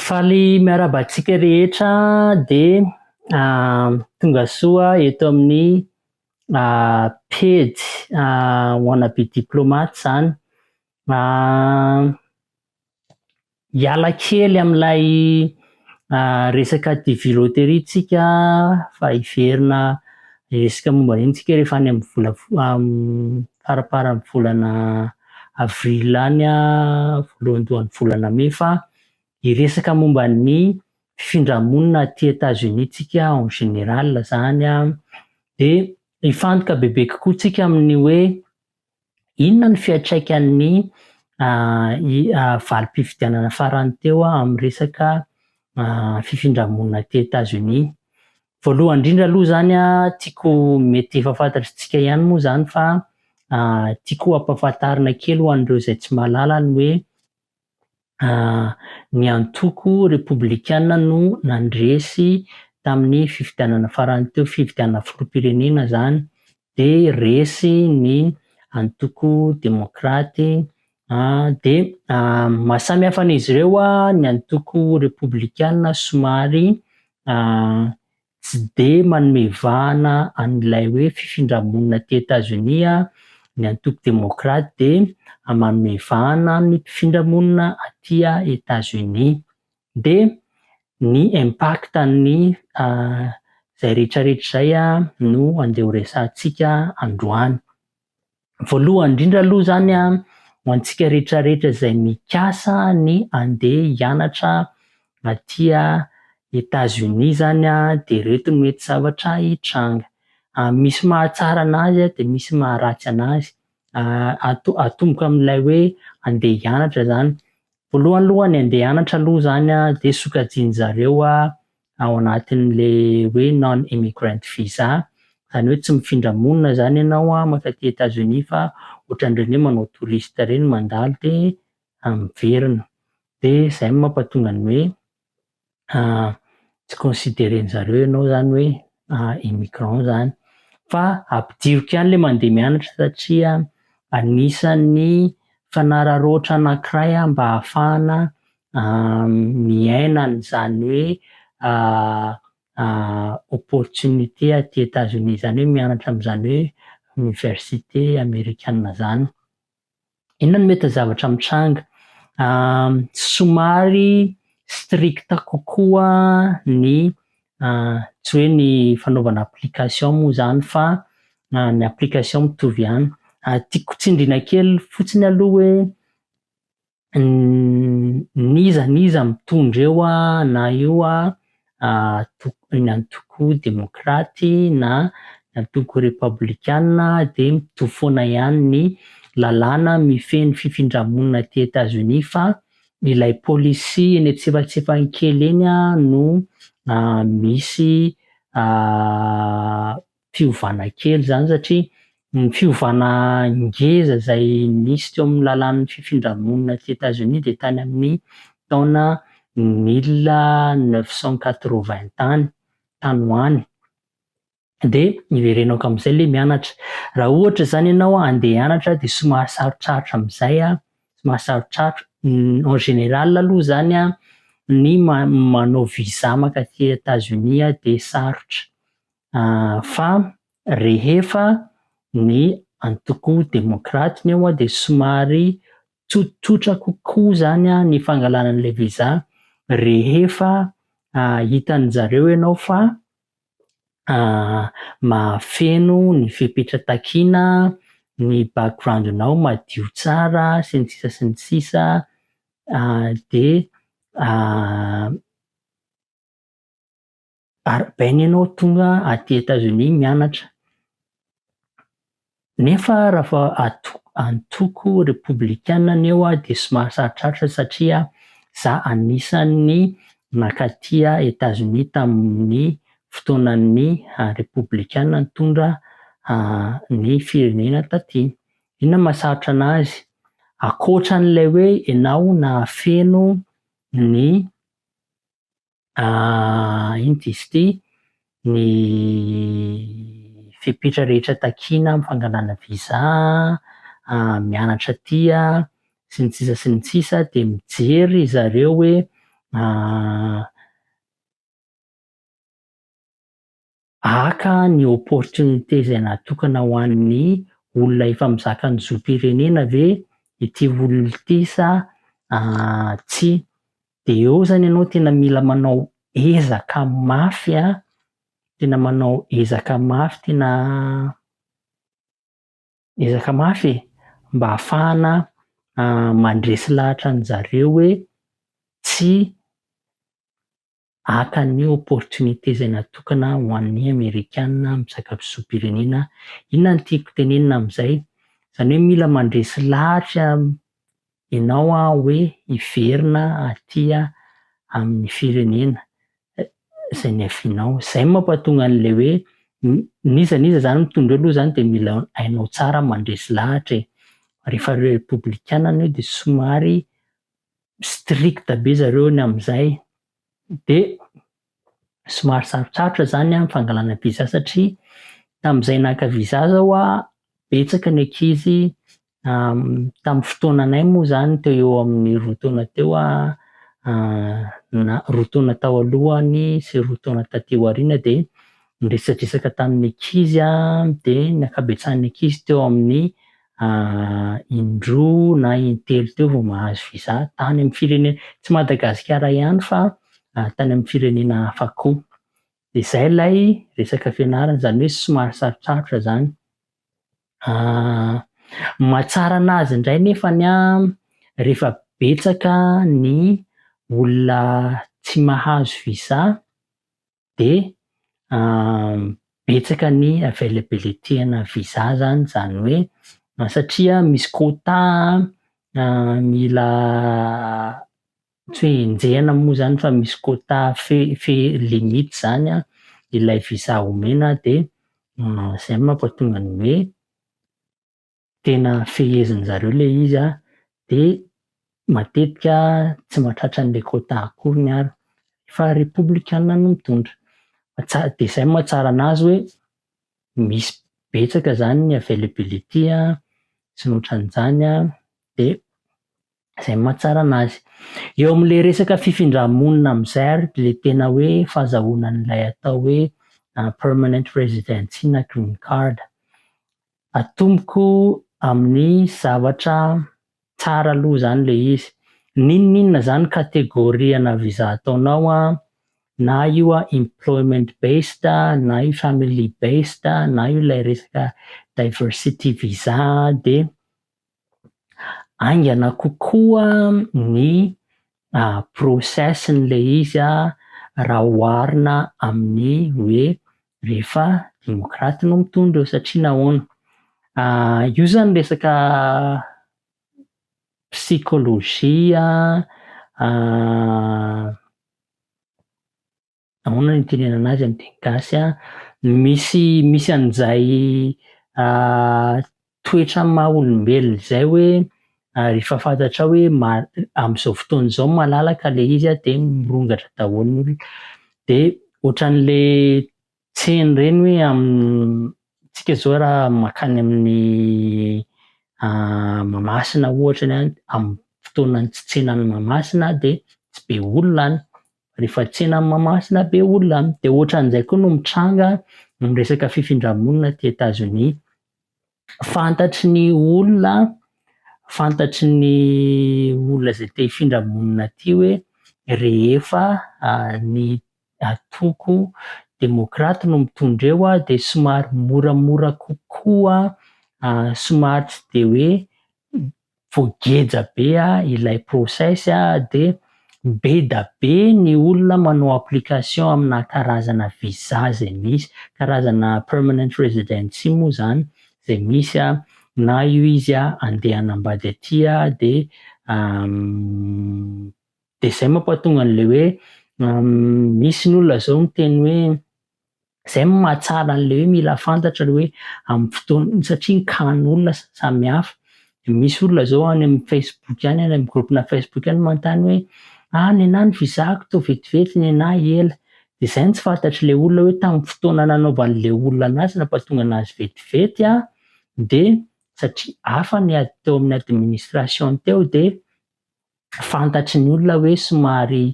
Faly miarahaba antsika rehetra dia tonga soa eto amin'ny pejy wanna be diplomate izany. Hiala kely amin'ilay resaka TV loterie tsika fa hiverina resaka momba an'iny tsika rehefa any amin'ny vola faraparan'ny volana avril any voalohandohan'ny volana mey fa hiresaka momba ny fifindramonina aty Etats Unis tsika en général zany dia hifantoka bebe kokoa tsika amin'ny hoe Inona no fiantraikan'ny valim-pifidianana farany teo amin'ny resaka fifindra-monina aty Etazonia? Voalohany indrindra aloha izany tiako mety efa fantatr'isika ihany moa izany fa tiako hampafantarina kely ho an'ireo izay tsy mahalala ny hoe Ny antoko Repoblikana no nandresy tamin'ny fifidianana farany teo, fifidianana filoham-pirenena izany, dia resy ny antoko Demokraty. Dia maha samy hafa an'izy ireo ny antoko Repoblikana somary Tsy dia manome vahana an'ilay hoe fifindra-monina aty Etazonia ny antoko demokraty dia manome vahana ny mpifindra-monina aty Etazonia. Dia ny impact-n'ny izay rehetrarehetra izay no andeha horesahantsika androany. Voalohany indrindra aloha izany a, ho antsika rehetra rehetra izay mikasa ny handeha hianatra aty Etazonia izany a, dia ireto no mety zavatra hitranga, misy mahatsara an'azy dia misy maharatsy an'azy, ato- atomboka amin'ilay hoe handeha hianatra izany, voalohany aloha ny handeha hianatra aloha izany a dia sokajian'izareo ao anatin'ilay hoe non immigrant visa, izany hoe tsy mifindra monina izany ianao an, mankany aty Etats Unis fa ohatran'ireny hoe manao touriste ireny mandalo dia miverina, dia izay no mampatonga ny hoe tsy consideren'ny zareo ianao izany hoe immigrant izany, fa ampidiriko ihany ilay mandeha mianatra satria anisan'ny fanararaotra anankiray mba hahafahana miaina an'izany hoe opportunité aty Etazonia izany hoe mianatra amin'izany hoe oniversite amerikana izany. Inona no mety zavatra mitranga? Somary strict kokoa ny tsy hoe ny fanaovana application moa izany fa ny application mitovy ihany. Tiako tsindriana kely fotsiny aloha hoe n'iza n'iza mitondra eo na io antoko demokraty na antoko repablikana dia mitovy foana ihany ny lalàna mifehy ny fifindra-monina aty Etazonia fa ilay policy eny an-tsipantsepaky kely eny no misy fiovana kely zany satria ny fiovana ngeza izay nisy teo amin'ny lalàn'ny fifindra-monina aty Etazonia dia tany amin'ny taona mille neuf cent quatre-vingt tany, tany ho any. Dia iverenako amin'izay ilay mianatra. Raha ohatra izany ianao handeha hianatra dia somary sarotsarotra amin'izay, somary sarotsarotra. En général aloha izany ny manao visa maka aty Etazonia dia sarotra. Fa rehefa ny antoko demokraty ny eo dia somary tsotsotra kokoa izany ny fangalana an'ilay visa rehefa hitan'ny zareo ianao fa mahafeno ny fepetra takiana, ny background-nao madio tsara sy ny sisa sy ny sisa dia Ary baina ianao tonga aty Etazonia mianatra. Nefa rafa ato antoko repoblikanina ny eo dia somary sarotrarotra satria za anisan'ny nakaty Etazonia tamin'ny fotoanan'ny repoblikanina nitondra ny firenena taty. Inona mahasarotra anazy? Akoatran'ilay hoe ianao nahafeno ny Iny diso ity, ny fepetra rehetra takiana amin'ny fangalana visa mianatra aty sy ny sisa sy ny sisa dia mijery ry zareo hoe Haka ny opportunité izay natokana ho an'ny olona efa mizaka ny zom-pirenena ve ity olona ity sa tsia? Dia eo izany ianao tena mila manao ezaka mafy, tena manao ezaka mafy, tena ezaka mafy e! mba hahafahana mandresy lahatra an'izareo hoe tsia. Haka ny opportunité izay natokana ho an'ny amerikana mpisakafizom-pirenena, inona no tiako tenenina amin'izay? Izany hoe mila mandresy lahatra ianao hoe hiverina aty amin'ny firenena izay niavianao. Izay no mampatonga an'ilay hoe n'iza n'iza izany mitondra eo aloha izany dia mila hainao tsara mandresy lahatra e! Rehefa repoblikana anao dia somary strict be zareo ny amin'izay de somary sarotsarotra izany ny fangalana visa satria tamin'izay naka visa aza hoa betsaka ny ankizy tamin'ny fotoananay moa izany teo eo amin'ny roa taona teo na roa taona tao alohany sy roa taona taty aoriana dia niresadresaka tamin'ny ankizy dia ny ankabetsahan'ny ankizy teo amin'ny indroa na intelo teo vao mahazo visa tany amin'ny firenena, tsy Madagasikara ihany fa tany amin'ny firenena hafa koa. Dia izay ilay resaka fianarana, izany hoe somary sarotsarotra izany. Ny mahatsara an'azy indray anefa rehefa betsaka ny olona tsy mahazo visa dia betsaka ny availability ana visa zany zany hoe satria misy quota mila tsy hoe enjehina moa zany fa misy quota fe- fe- limite zany an ilay visa omena dia zay no mampatonga ny hoe tena feheziny zareo ilay izy an, dia matetika tsy mahatratra an'ilay quota akory ny ary fa republikana no mitondra dia izay moa tsara anazy hoe misy betsaka izany ny availability an, sy ny otran'izany an, dia izay moa tsara anazy. Eo amin'ilay resaka fifindra-monina amin'izay ary ilay tena hoe fahazahoana an'ilay atao hoe permanent residency na green card atomboko amin'ny zavatra tsara aloha zany le izy, n'inon'inona zany catégorie na visa ataonao an, na io an employment based na io family based na io ilay resaka diversity visa dia haingana kokoa ny process-n'ilay izy raha oharina amin'ny hoe rehefa demokraty no mitondra eo satria nahoana? io izany resaka psikôlôjia Ahoana ny itenenana azy amin'ny teny gasy a? Misy misy an'izay toetra maha olombelona izay hoe rehefa fantatrao hoe amin'izao fotoana izao malalaka ilay izy a dia mirongatra daholo ny olona. Dia ohatran'ilay tsena ireny hoe amintsika izao raha mankany amin'ny Mahamasina ohatra ny any, amin'ny fotoanan'ny tsy tsenan'ny Mahamasina dia tsy be olona any Rehefa tsena any Mahamasina be olona any dia ohatran'izay koa no mitranga ny resaka fifindra-monina aty Etazonia. Fantatry ny olona, fantatry ny olona izay te hifindra monina aty hoe rehefa ny antoko demokraty no mitondra eo dia somary moramora kokoa, somary tsy dia hoe vao geja be ilay process dia beda be ny olona manao application amina karazana visa izay misy, karazana permanent residency moa izany izay misy na io izy andeha hanambady aty dia dia izay mampahatonga an'ilay hoe misy ny olona izao miteny hoe Izay no mahatsara an'ilay hoe mila fantatra ilay hoe amin'ny fotoana satria nkahan'olona samihafa. Misy olona izao any amin'ny Facebook any, any amin'ny groupe-na Facebook any manontany hoe ah nenah ny visa-ko toa vetivety nenah ela. Dia izay no tsy fantatr'ilay olona hoe tamin'ny fotoana nanaovan'ilay olona anazy nampahatonga anazy vetivety an, dia satria hafa ny teo amin'ny administration teo dia. fantatry ny olona hoe somary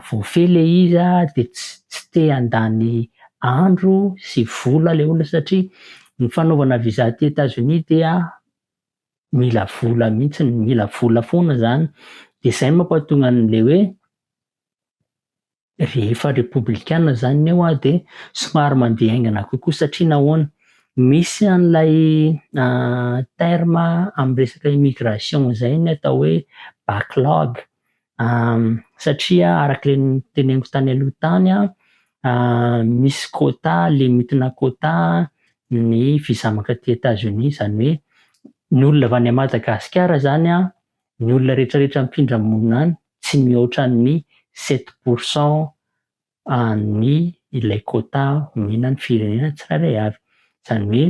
voafehy ilay izy dia tsy te handany andro sy vola ilay olona satria ny fanaovana visa aty Etazonia dia mila vola mihitsy, mila vola foana izany, dia izay no mampahatonga an'ilay hoe Rehefa repoblikana izany eo aho dia somary mandeha haingana kokoa satria nahoana? Misy an'ilay terme amin'ny resaka immigration izay ny atao hoe backlog satria araka ilay noteneniko tany aloha tany an, misy quota, limitina quota ny visa mankaty Etazonia izany hoe ny olona avy any Madagasikara izany an, Ny olona rehetrarehetra mpindra monina any tsy mihoatra ny sept pour cent an'ny ilay quota omenan'ny firenena tsirairay avy. Izany hoe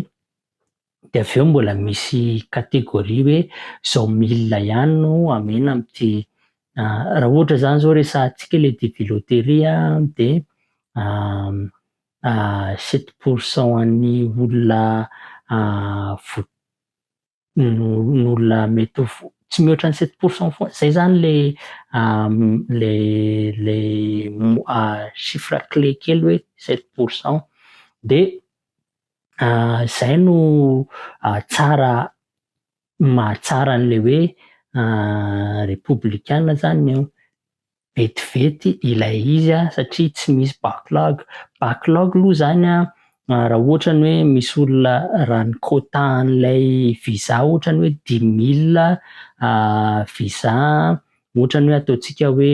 dia avy eo mbola misy catégorie hoe izao milina ihany no amena amin'ity raha ohatra izany izao resahantsika ilay DG loterie dia sept pour cent an'ny olona n'olona mety ho tsy mihoatra ny sept pour cent foana, izay izany ilay ilay ilay chiffre clé kely hoe sept pour cent. Dia izay no tsara mahatsara an'ilay hoe repoblikana izany io. vetivety ilay izy an satria tsy misy backlog, backlog aloha zany an raha ohatra ny hoe misy olona raha ny quota an'ilay visa ohatra ny hoe dix mille visa ohatra ny hoe ataontsika hoe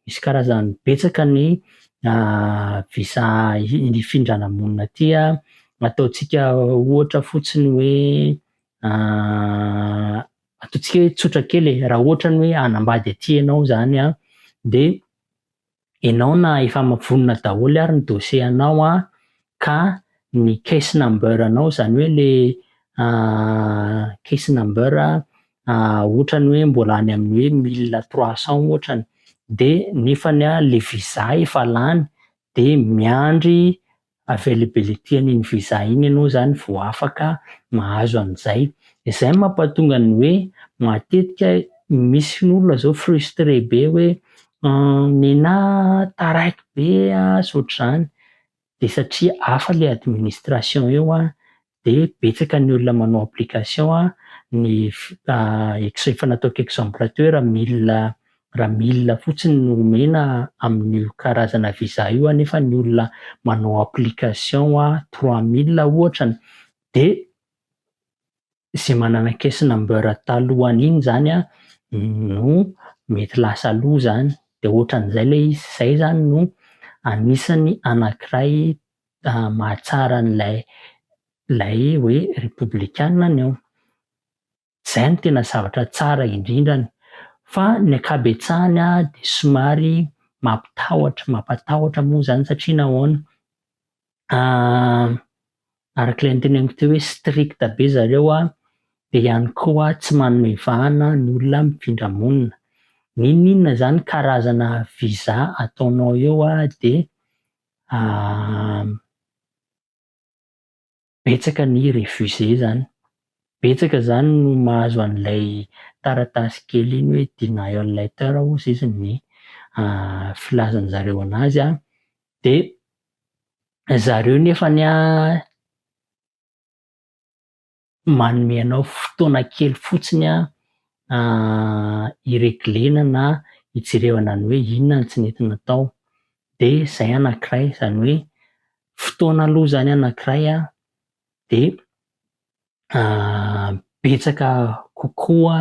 misy karazany betsaka ny visa hifindrana monina aty an, ataontsika ohatra fotsiny hoe Ataontsika hoe tsotra kely e, raha ohatra ny hoe hanambady aty ianao izany an, dia ianao na efa vonona daholo ary ny dossier anao an, ka ny case number anao izany hoe le case number ohatra ny hoe mbola any amin'ny hoe mille trois cent ohatra ny, dia nefany an le visa efa lany dia miandry availability an'iny visa iny ianao izany vao afaka mahazo an'izay. Izay no mampatonga ny hoe matetika misy ny olona izao frustré be hoe nenah taraiky be ah, sy ohatr'izany, dia satria hafa ilay administration eo an, dia betsaka ny olona manao application a, ny efa nataoko exemple teo raha mille raha mille fotsiny no omena amin'io karazana visa io a nefa ny olona manao application a trois mille ohatra dia izay manana caisse number talohan'iny iny izany a no mety lasa aloha izany dia ohatran'izay ilay izy, izay izany no anisany anankiray mahatsara an'ilay ilay hoe repoblikana ny ao. Izay no tena zavatra tsara indrindra any. Fa ny ankabetsahany dia somary mampitahotra, mampatahotra moa izany satria nahoana, araka ilay noteneniko teo hoe strict be ry zareo an, dia ihany koa tsy manome vahana ny olona mpifindra monina. N'inon'inona izany karazana visa ataonao eo dia Betsaka ny refuser zany, betsaka zany no mahazo an'ilay taratasy kely iny hoe denial letter ozy izy ny filazan'ny zareo an'azy an, de zareo nefany an, manome anao fotoana kely fotsiny hi-regler-na na hijerevana ny hoe inona no tsy nety natao, dia izay anankiray, izany hoe fotoana aloha izany anankiray dia betsaka kokoa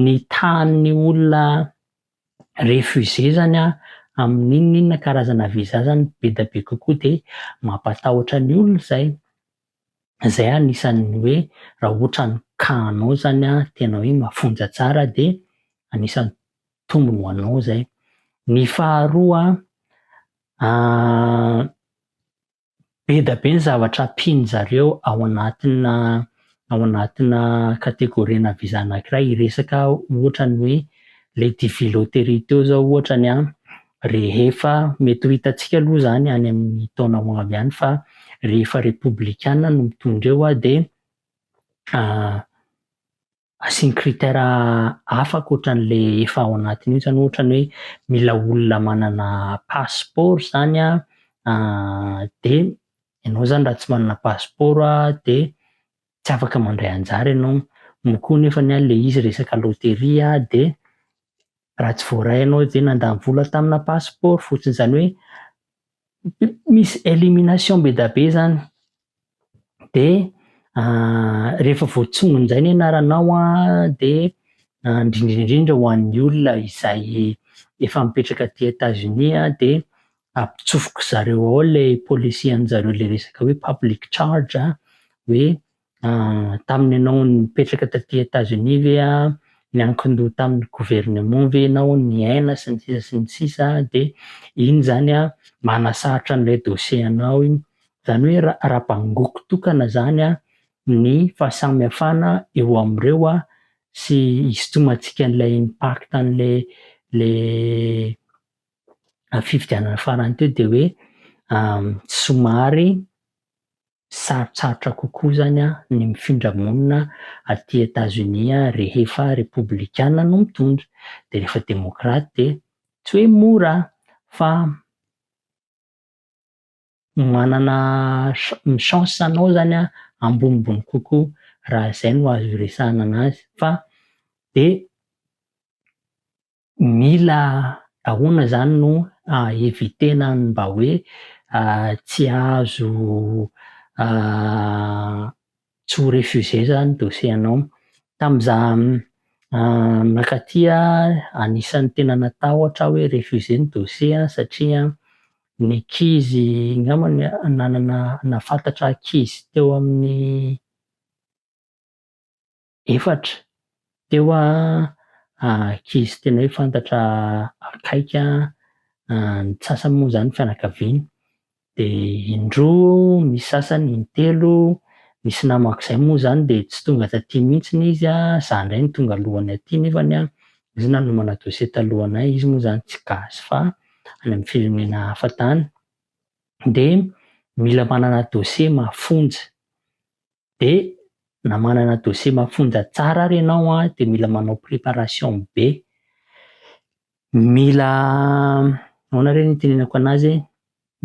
ny tahan'ny olona refuser izany an, amin'ny inona inona karazana visa izany, be dia be kokoa dia mampatahotra ny olona izay. zay anisan'ny hoe raha ohatra ny cas anao zany an, tena hoe mafonja tsara de anisan'ny tombony ho anao zay. Ny faharoa an, beda be ny zavatra ampiany zareo ao anatina ao anatina categorie na visa anakiray, hiresaka ohatra ny hoe le divilotterie teo zao ohatra ny an, Rehefa, mety ho hitantsika aloha izany any amin'ny taona ho avy any fa rehefa Repoblikana no mitondra eo dia asiany critère hafa ankoatran'ilay efa ao anatiny io, izany ohatra ny hoe mila olona manana pasipaoro izany an, dia ianao izany raha tsy manana pasipaoro dia tsy afaka mandray anjara ianao, moa koa nefa ny ahy ilay izy resaka loterie aho dia raha tsy voaray ianao dia nandany vola tamina passeport fotsiny izany hoe misy elimination be dia be izany dia rehefa voatsongon'izay ny anaranao an dia indrindra indrindra ho an'ny olona izay efa mipetraka aty Etats Unis dia ampitsofoko zareo ao le policy anjareo le resaka hoe public charge a, hoe tamin'ny ianao nipetraka taty Etazonia ve a, niankin-doha tamin'ny gouvernement ve ianao, niaina sy ny sisa sy ny sisa de iny zany a manasarotra an'ilay dossier anao iny, zany hoe ra- raha bangoko tokana zany a ny fahasamihafana eo amin'ireo a sy hisintomantsika an'ilay impact an'le le fifidianana farany teo dia hoe somary sarotsarotra kokoa zany a ny mifindra monina aty Etazonia rehefa repoblikanina no mitondra dia rehefa demokraty dia tsy hoe mora fa manana ny chance anao zany a ambonimbony kokoa raha izay no azo iresahana an'azy fa dia Mila ahoana izany no hahavitena ny mba hoe tsy azo tsy ho refusé izany dossier anao. Tamin'izaho nankaty anisan'ny tena natahotra aho hoe refusé ny dossier aho satria ny ankizy angamba ny nanana nahafantatra ankizy teo amin'ny efatra teo ankizy tena hoe fantatra akaiky ny sasany moa izany fianakaviana dia indroa misy sasany intelo nisy namako izay moa izany dia tsy tonga taty mihitsy izy an, izaho indray no tonga alohany aty nefa ny an izy nanomana dosie talohanay izy moa izany tsy gasy fa any amin'ny firenena hafa tany dia mila manana dosie mafonja de na manana dossier mafonja tsara ary ianao an, dia mila manao préparation be, mila ahoana re ny itenenako an'azy e,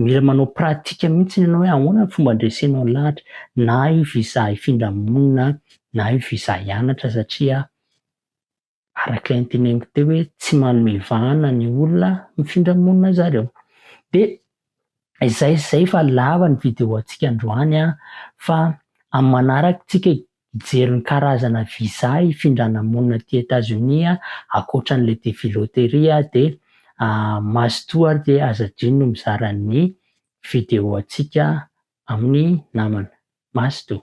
mila manao pratique mihitsy ianao hoe ahoana ny fomba handresenao ny lahatra, na io visa hifindra monina, na io visa hianatra satria araka ny teneniko teo hoe tsy manome vahana ny olona mifindra monina zareo de izay izay fa lava ny vidéo antsika androany a fa amin'ny manaraka tsika hijery ny karazana visa hifindrana monina aty Etazonia a akoatra an'ilay devis loterie a de mazotoa ary de aza adino mizara ny vidéo antsika amin'ny namana mazotoa